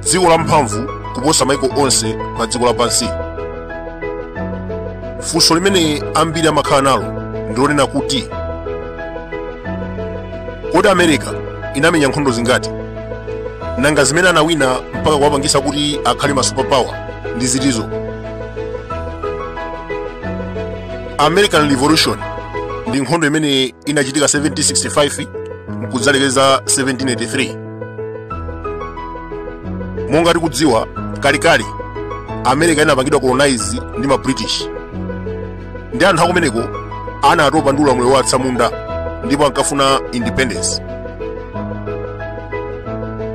dziko lamphamvu kuposa maiko onse pa dziko lapansi funso limene ambiri amakhala nalo ndilonena kuti kodi america inamenya nkhondo zingati nanga zimene anawina mpaka kuwapangisa kuti akhale ma superpower ndi zitizo american revolution ndi nkhondo imene inachitika 1765 mkudzalekeza 1783 monga tikudziwa kalekale america inapangidwa colonize ndi ma british andi anthu akumeneko anatopa ndi ulamuliro wa atsamunda ndipo ankafuna independence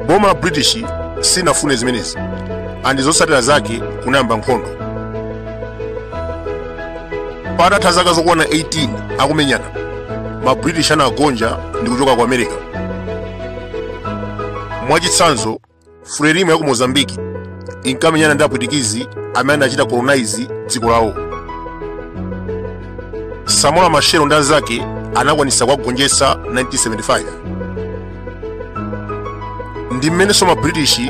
boma la british sinafune zimenezi andi zotsatira zake kunayamba nkhondo patatha zaka zokwana 18 akumenyana ma british anagonja ndi kuchoka ku america mwachitsanzo frelimo ya ku mozambique inkamenyana ndi apwitikizi amene anachita colonize dziko lawo samora machel ndi anzake anakwanitsa kuwagonjetsa 1975 ndi mmenenso ma british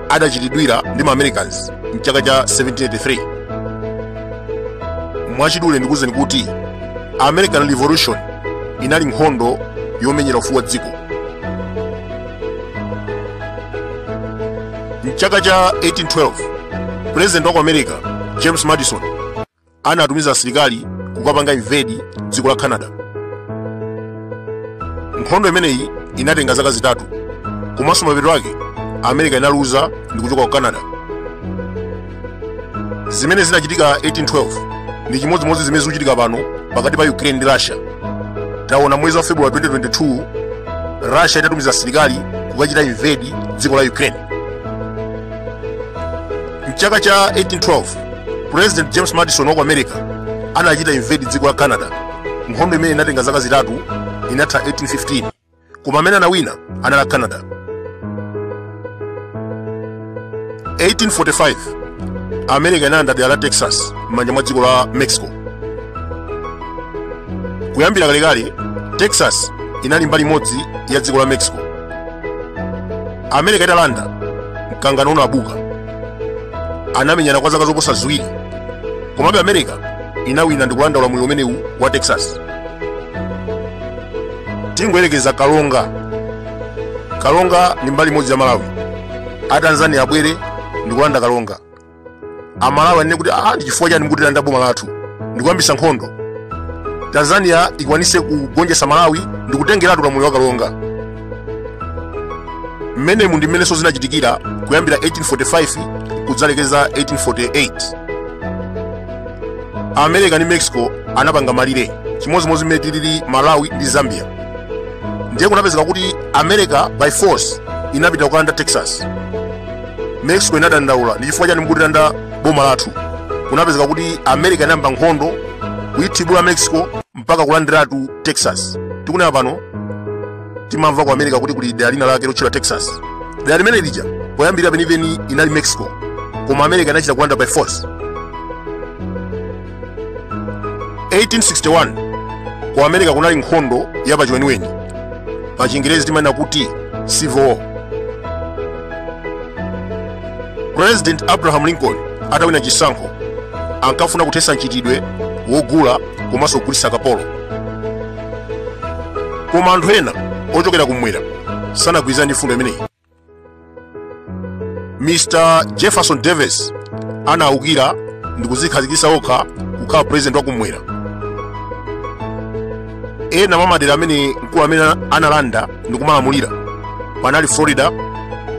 adachitidwira ndi ma americans mchaka cha 1783 mwachidule ndikuwuzeni kuti american revolution inali nkhondo yomenyera ufulu wa dziko mchaka cha 1812 president wa ku america james madison anatumiza asilikali kukapanga invade dziko la canada nkhondo imeneyi inatenga zaka zitatu komanso mapeto ake america inaluza ndi kuchoka ku canada zimene zinachitika 1812 ndi chimodzimodzi zimene zikuchitika pano pakati pa ukraine ndi russia taona mwezi wa february 2022 russia itatumiza asilikali kukachita invade dziko la ukraine mchaka cha 1812 president james madison wa ku america anachita invade dziko la canada nkhondo imene inatenga zaka zitatu inatha 1815 koma amene anawina anali a canada 1845 america inalanda dera la texas m'manja mwa dziko la mexico kuyambira kalekale texas inali mbali imodzi ya dziko la mexico america italanda mkangano unabuka anamenyana kwa zaka zoposa ziwiri komabe america inawina ndi kulanda ulamuliro umenewu wa texas tingoyerekeza karonga karonga ndi mbali imodzi ya malawi atanzania abwere ndikulanda karonga amalawi anene kuti ah ndi chifukwa chani mukutilanda boma lathu ndikuyambisa nkhondo tanzania ikwanise kugonjetsa malawi ndikutengeratu ulamuliro wa karonga mmenemu ndi mmenenso zinachitikira kuyambira 1845 kudzalekeza 1848 america ndi mexico anapanga malire chimodzimodzi mmene tilili malawi ndi zambia ndiye kunapezeka kuti america by force inapita kukalanda texas mexico inadandaula ndi chifukwa chani mukutilanda boma lathu kunapezeka kuti america inayamba nkhondo kuyithibula mexico mpaka kulandiratu texas tikunena pano timamva ku america kuti kuli dera lina lake lotchedwa texas dera limene lija poyambirira penipeni inali mexico koma america inachita kulanda by force 1861 ku america kunali nkhondo ya pachiweniweni pa chingerezi timanena kuti civil war president abraham lincoln atawina chisankho ankafuna kuthetsa mchitidwe wogula komanso kugulitsa kapolo koma anthu ena ochokera kumwera sanagwirizane ndi mfundo imeneyi mr jefferson davis anaukira ndi kudzikhazikitsa okha kukhala president wa kumwera ena mwa madera amene mkulu ameneyu analanda ndi kumalamulira panali florida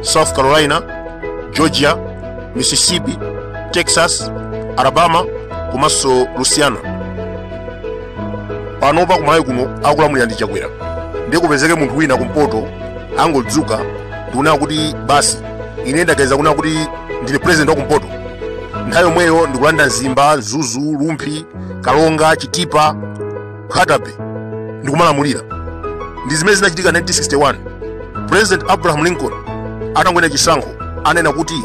south carolina georgia mississippi texas alabama komanso louisiana panopa kumalawi kuno akulamulira ndi chakwera ndiye kupezeke munthu wina kumpoto angodzuka ndikunena kuti basi ine ndaganiza kunena kuti ndine president wa kumpoto nthawi yomweyo ndikulanda mzimba mzuzu rumphi karonga chitipa nkhata bay ndikumalamulira ndi zimene zinachitika 1961 president abraham lincoln atangowina chisankho ananena kuti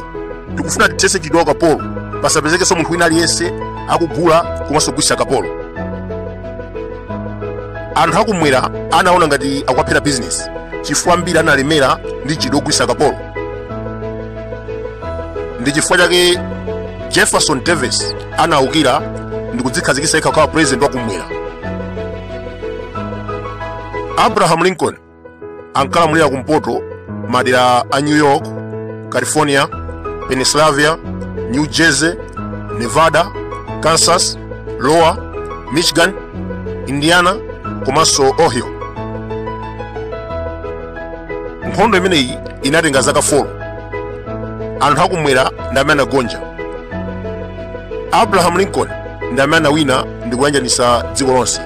tikufuna tithetse mchitidwe wa ukapolo pasapezekenso munthu wina aliyense akugula komanso kugulitsa kapolo anthu akumwera anaona ngati akuwaphera bizinesi chifukwa ambiri analemera ndi mchitidwe wogulitsa kapolo ndi chifukwa chake jefferson davis anaukira ndi kudzikhazikitsa yekha kukhala president wakumwera abraham lincoln ankalamulira kumpoto madera a new york california pennsylvania new jersey nevada kansas iowa michigan indiana komanso ohio nkhondo imeneyi inatenga zaka 4 anthu akumwera ndi amene anagonja abraham lincoln ndi amene anawina ndi kuyanjanitsa dziko lonse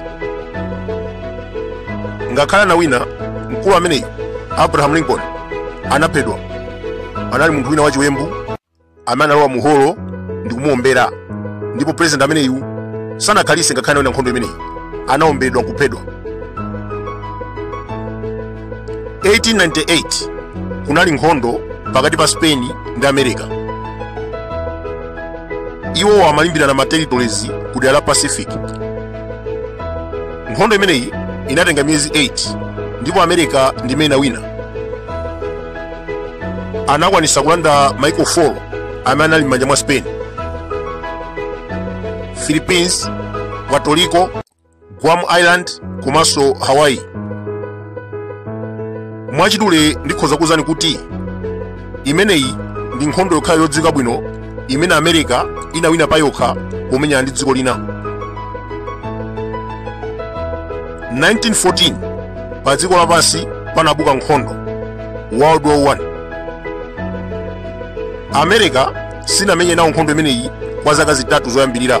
ngakhale anawina mkulu ameneyu abraham lincoln anaphedwa anali munthu wina wachiwembu amene analowa mu holo ndi kumuombera ndipo president ameneyu sanakhalise ngakhale anawina nkhondo imeneyi anaomberedwa nkuphedwa 1898 kunali nkhondo pakati pa spain ndi america iwo amalimbirana ma territories ku dera la pacific nkhondo imeneyi inatenga miyezi 8 ndipo america ndi imene inawina anakwanisa kulanda maiko 4 amene anali m'manja mwa spain philippines puerto rico guam island komanso hawaii mwachidule ndikhoza kuwuzani kuti imeneyi ndi nkhondo yokhayo yodziwika bwino imene america inawina pa yokha pomenyana ndi dziko lina 1914 pa dziko lapansi panabuka nkhondo world war 1 america sinamenye nawo nkhondo imeneyi kwa zaka zitatu zoyambirira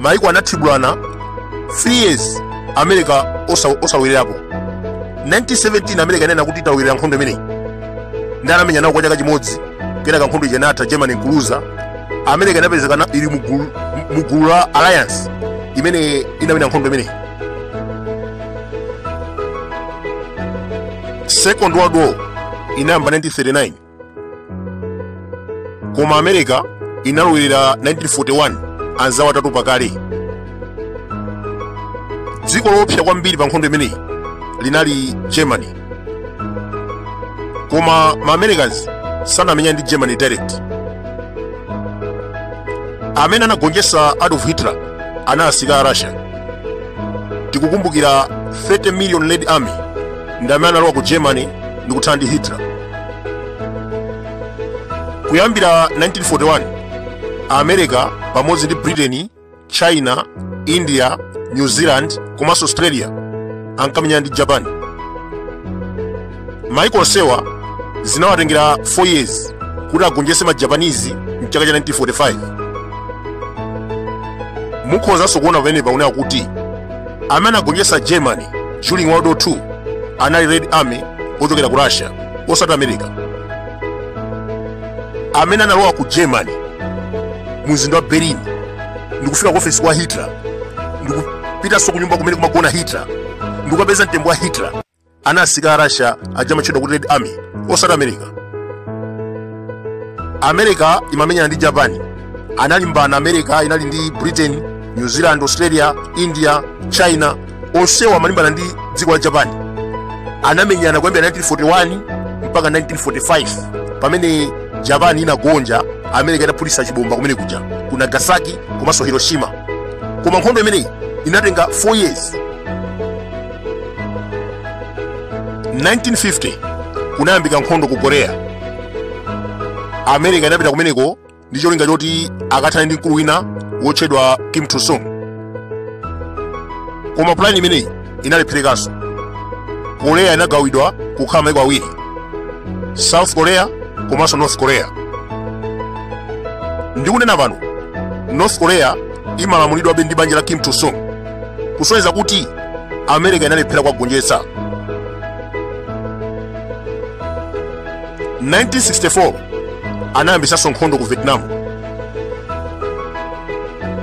maiko anathibulana 3 years america osalowererapo 1917 america inena kuti italowerera nkhondo imeneyi ndi anamenya nawo kwa chaka chimodzi kenaka nkhondo ija inatha germany nkuluza america inapezeka ili mugulu la alliance imene inawina nkhondo imeneyi second world war inayamba 1939 koma america inalowerera 1941 anzawo atatopa kale dziko loopsa kwambiri pa nkhondo imeneyi linali germany koma ma americans sanamenya ndi germany direct amene anagonjetsa adolf hitler anali asilikali a russia tikukumbukira 30 million red army ndi amene analowa ku germany ndikuthana ndi hitler kuyambira 1941 america pamodzi ndi britain china india new zealand komanso australia ankamenyana ndi japan maiko onsewa zinawatengera 4 years kuti agonjetse ma japanese mchaka cha 1945 mukhozanso kuona pamenepa unena kuti amene anagonjetsa germany during world war 2 anali red army ochokera ku russia osati america amene analowa ku germany mu mzinda wa berlin ndikufika ku ofesi kwa hitler ndikupitanso ku nyumba kumene kumagona hitler ndikukapeza mtembo wa hitler anali asilikali a russia aja amatchedwa kuti red army osati america america imamenyana ndi japan analimbana america inali ndi britain new zealand australia india china onsewa amalimbana ndi dziko la japan anamenyana kuyambira 1941 mpaka 1945 pamene japan inagonja america inaphulitsa chibomba kumene kuja ku nagasaki komanso hiroshima koma nkhondo imeneyi inatenga 4 years 1950 kunayambika nkhondo ku korea america inapita kumeneko ndi cholinga choti akathane ndi mkulu wina wotchedwa kim il sung koma pulani imeneyi inalepherekanso korea inagawidwa kukhala maiko awiri south korea komanso north korea ndikunena pano north korea imalamulidwabe ndi banja la kim il sung kusonyeza kuti america inalephera kuwagonjetsa 1964 anayambitsanso nkhondo ku vietnam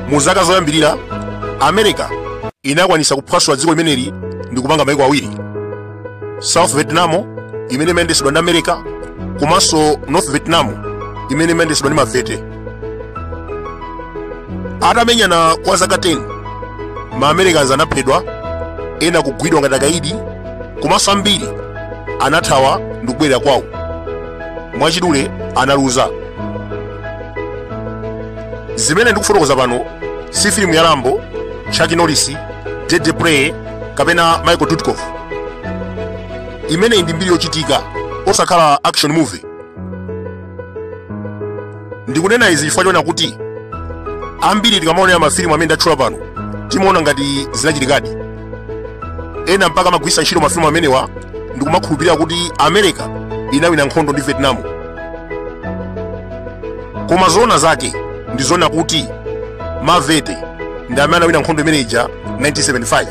mu zaka zoyambirira america inakwanitsa kuphwasula dziko limeneli ndi kupanga maiko awiri south vietnam imene imayendetsedwa ndi america komanso north vietnam imene imayendetsedwa ndi mavete atamenyana kwa zaka 10 ma americans anaphedwa ena kugwidwa ngati akaidi komanso ambiri anathawa ndi kubwerera kwawo mwachidule analuza zimene ndikufotokoza pano si filimu ya rambo chuck norris deadly prey kapena michael dudikoff imeneyi ndi mbiri yochitika osakhala action movie ndikunena izi chifukwa chonena kuti ambiri tikamaonera mafilimu amene ndatchula pano timaona ngati zinachitikadi ena mpaka amagwiritsa ntchito mafilimu amenewa ndikumakhulupirira kuti america inawina nkhondo ndi vietnam koma zoona zake ndi zonena kuti mavete ndi amene anawina nkhondo imene ija 1975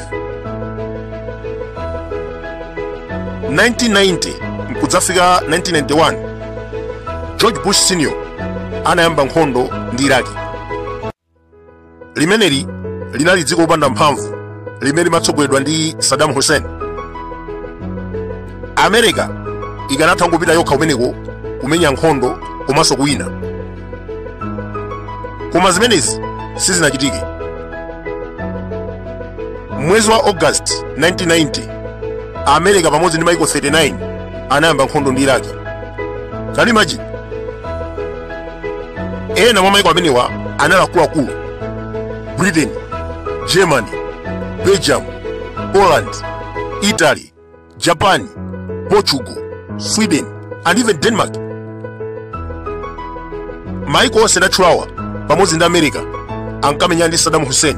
1990 nkudzafika 1991 george bush senior anayamba nkhondo ndi iraki limeneli linali dziko lopanda mphamvu limene limatsogoleredwa ndi saddam hussein america ikanatha kungopita yokha kumeneko kumenya nkhondo komanso kuwina koma zimenezi sizinachitike m'mwezi wa august 1990 america pamodzi ndi maiko 39 anayamba nkhondo ndi iraki can you imagine ena mwa maiko amenewa anali akuluakulu britain germany belgium poland italy Japan, Portugal, Sweden, and even Denmark. Maiko onse ndatchulawa pamodzi ndi America ankamenyana ndi Saddam Hussein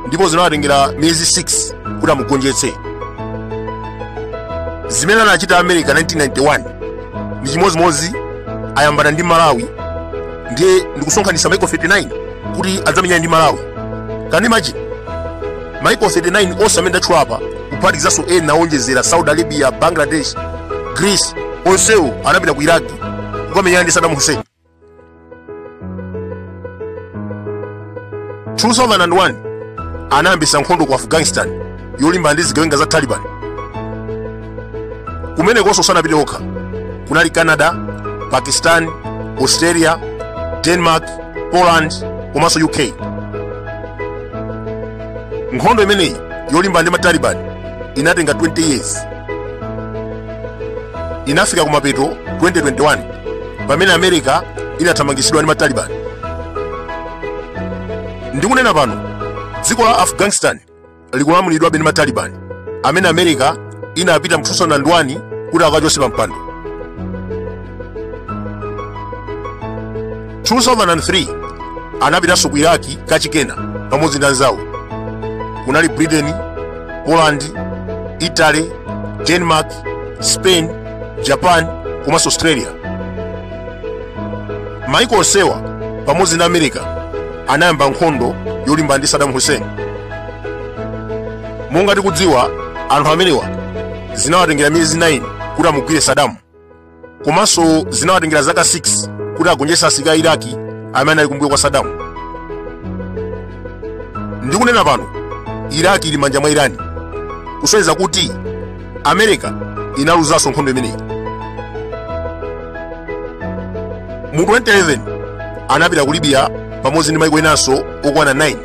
ndipo zinawatengera miyezi 6 kuti amugonjetse. Zimene anachita America 1991 ndi chimodzimodzi ayambana ndi Malawi ndiye ndikusonkhanitsa maiko 39 kuti adzamenyane ndi Malawi. Can you imagine? Maiko 39 onse amene ndatchula apa kuphatikizanso ena owonjezera Saudi Arabia, Bangladesh, Greece, onsewo anapita ku Iraq kukamenyana ndi Saddam Hussein. 2001 anayambitsa nkhondo ku Afghanistan yolimbana ndi zigawenga za Taliban. kumenekonso sanapite okha kunali canada pakistan australia denmark poland komanso uk nkhondo imeneyi yolimbana ndi mataliban inatenga 20 years inafika kumapeto 2021 pamene america inathamangitsidwa ndi mataliban ndikunena pano dziko la afghanistan likulamulidwabe ndi mataliban amene america inapita mu 2001 kuti akawachotse pa mpando 2003 anapitanso ku iraki kachikenanso pamodzi ndi anzawo kunali britain poland italy denmark spain japan komanso australia maiko onsewa pamodzi ndi america anayamba nkhondo yolimbana ndi Saddam Hussein. Monga tikudziwa, anthu amenewa zinawatengera miyezi 9 kuti amugwire Saddam, komanso zinawatengera zaka 6 kuti agonjetse asilikali a Iraki amene anali kumbuyo kwa Saddam. Ndikunena pano, Iraki ili m'manja mwa Irani, kusonyeza kuti america inaluzanso nkhondo imeneyi mu 2011 anapita ku libya pamodzi ndi maiko enanso okwana 9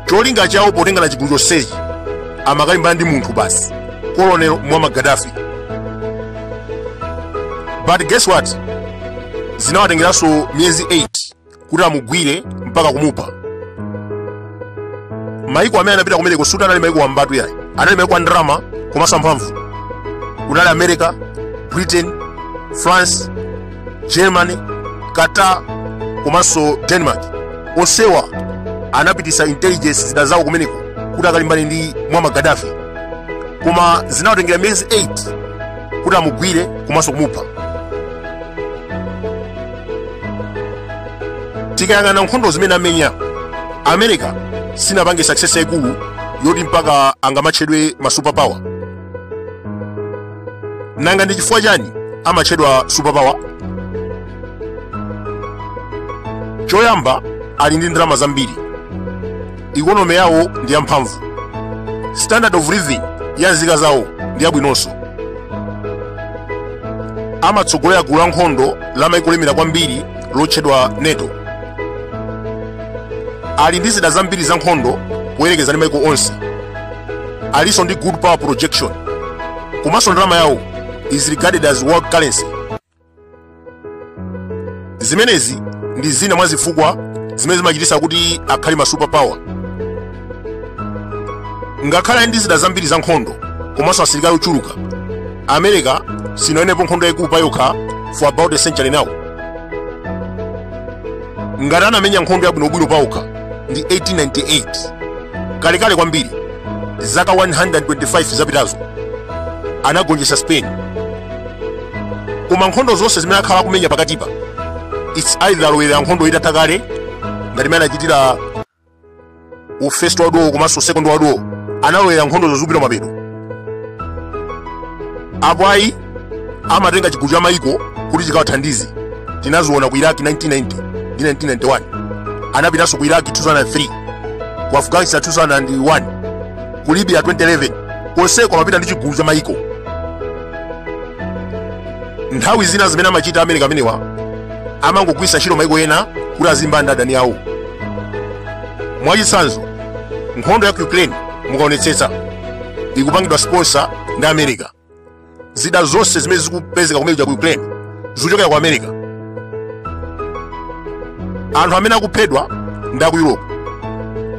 cholinga chawo potengana chigulu chonsechi amakalimbana ndi munthu basi colonel muammar gaddafi but guess what zinawatengeranso miyezi 8 kuti amugwire mpaka kumupha maiko amene anapita kumeneko suti anali maiko wambatu yayi anali maiko a ndalama komanso amphamvu kunali america britain france germany qatar komanso denmark onsewa anapitisa intelligence zida zawo kumeneko kuti akalimbane ndi muammar gaddafi koma zinawatengera miyezi 8 kuti amugwire komanso kumupha tikayang'ana nkhondo zimene amenya america sinapange success yaikulu yoti mpaka angamatchedwe ma superpower nanga ndi chifukwa chani amatchedwa superpower choyamba ali ndi ndalama zambiri ikonomi yawo ndi yamphamvu standard of living ya nzika zawo ndi yabwinonso amatsogolera gulu la nkhondo la maiko olemera kwambiri lotchedwa nato ali ndi zida zambiri za nkhondo poyerekeza ndi maiko onse alinso ndi good power projection komanso ndalama yawo is regarded as world currency zimenezi ndi zina mwa zifukwa zimene zimachititsa kuti akhale ma superpower ngakhale ali ndi zida zambiri za nkhondo komanso asilikali ochuluka america sinawinepo nkhondo yayikulu pa yokha for about a century now ngati anamenya nkhondo yabwinobwino pa okha ndi 1898 kalekale kwambiri zaka 125 zapitazo anagonjetsa spain koma nkhondo zonse zimene akhala akumenya pakatipa its either alowerera nkhondo itatha kale ngati mmene anachitira ku first world war komanso second world war analowerera nkhondozo zikupita ku mapeto apo ayi amatenga chigulu cha mayiko kuti chikawathandize tinaziona ku iraq 1990 ndi 1991 anapitanso ku iraq 2003 ku afghanistan 2001 ku libya 2011 konseko amapita ndi chigulu cha mayiko nthawi zina zimene amachita ma america amenewa amangogwiritsa ntchito maiko ena kuti azilimbana ndi adani awo mwachitsanzo nkhondo ya ku ukraine mukaonetsetsa ikupangidwa sponsor ndi america zida zonse zimene zikupezeka kumenekuja ku ukraine zikuchokera ku america anthu amene akuphedwa ndi aku europe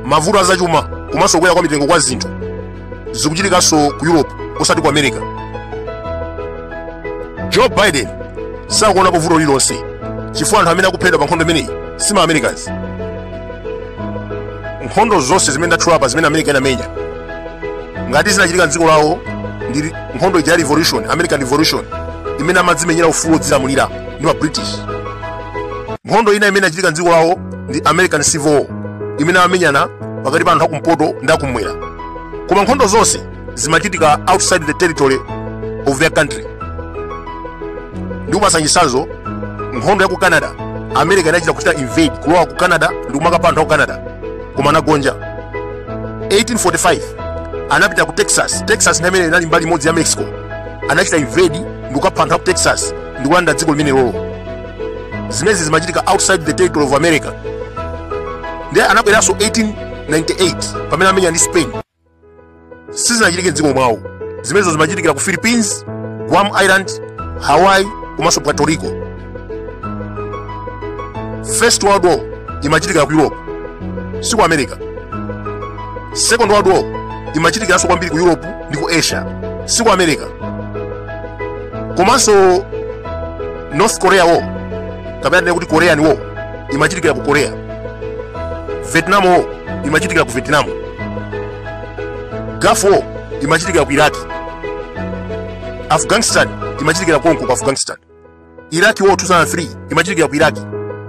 mavuto azachuma komanso kukwera kwa mitengo kwa zinthu zikuchitikanso ku europe osati ku america joe biden sakuonapo vuto lililonse chifukwa anthu amene akuphedwa pa nkhondo imeneyi si ma americans nkhondo zonse zimene ndatchulapa zimene america inamenya ngati zinachitika mdziko lawo ndi nkhondo ija ya revolution american revolution imene amadzimenyera ufulu wodzilamulira ndi ma british nkhondo ina imene inachitika mdziko lawo ndi american civil war imene amamenyana pakati pa anthu akumpoto ndi akumwera koma nkhondo zonse zimachitika outside the territory of their country ndikupatsa chitsanzo nkhondo ya ku canada america inachita kuchita invade kulowa ku canada ndi kumakapha anthu a ku canada koma anagonja 1845 anapita ku texas texas nthawi imene inali mbali imodzi ya mexico anachita invade ndi kukapha anthu a ku texas ndi kulanda dziko limenelolo zimezi zimachitika outside the territory of america ndiye anabweranso 1898 pamene amenya ndi spain sizinachitike mdziko mwawo zimenezi zimachitikira ku philippines guam island hawaii komanso puerto rico first world war imachitikira ku europe si ku america second world war imachitikiranso kwambiri ku europe ndi ku asia si ku america komanso north korea war kapena tinene kuti korean war imachitikira ku korea vietnam war imachitikira ku vietnam gulf war imachitikira ku iraq afghanistan imachitikira konko ku afghanistan iraq war 2003 imachitikira ku iraq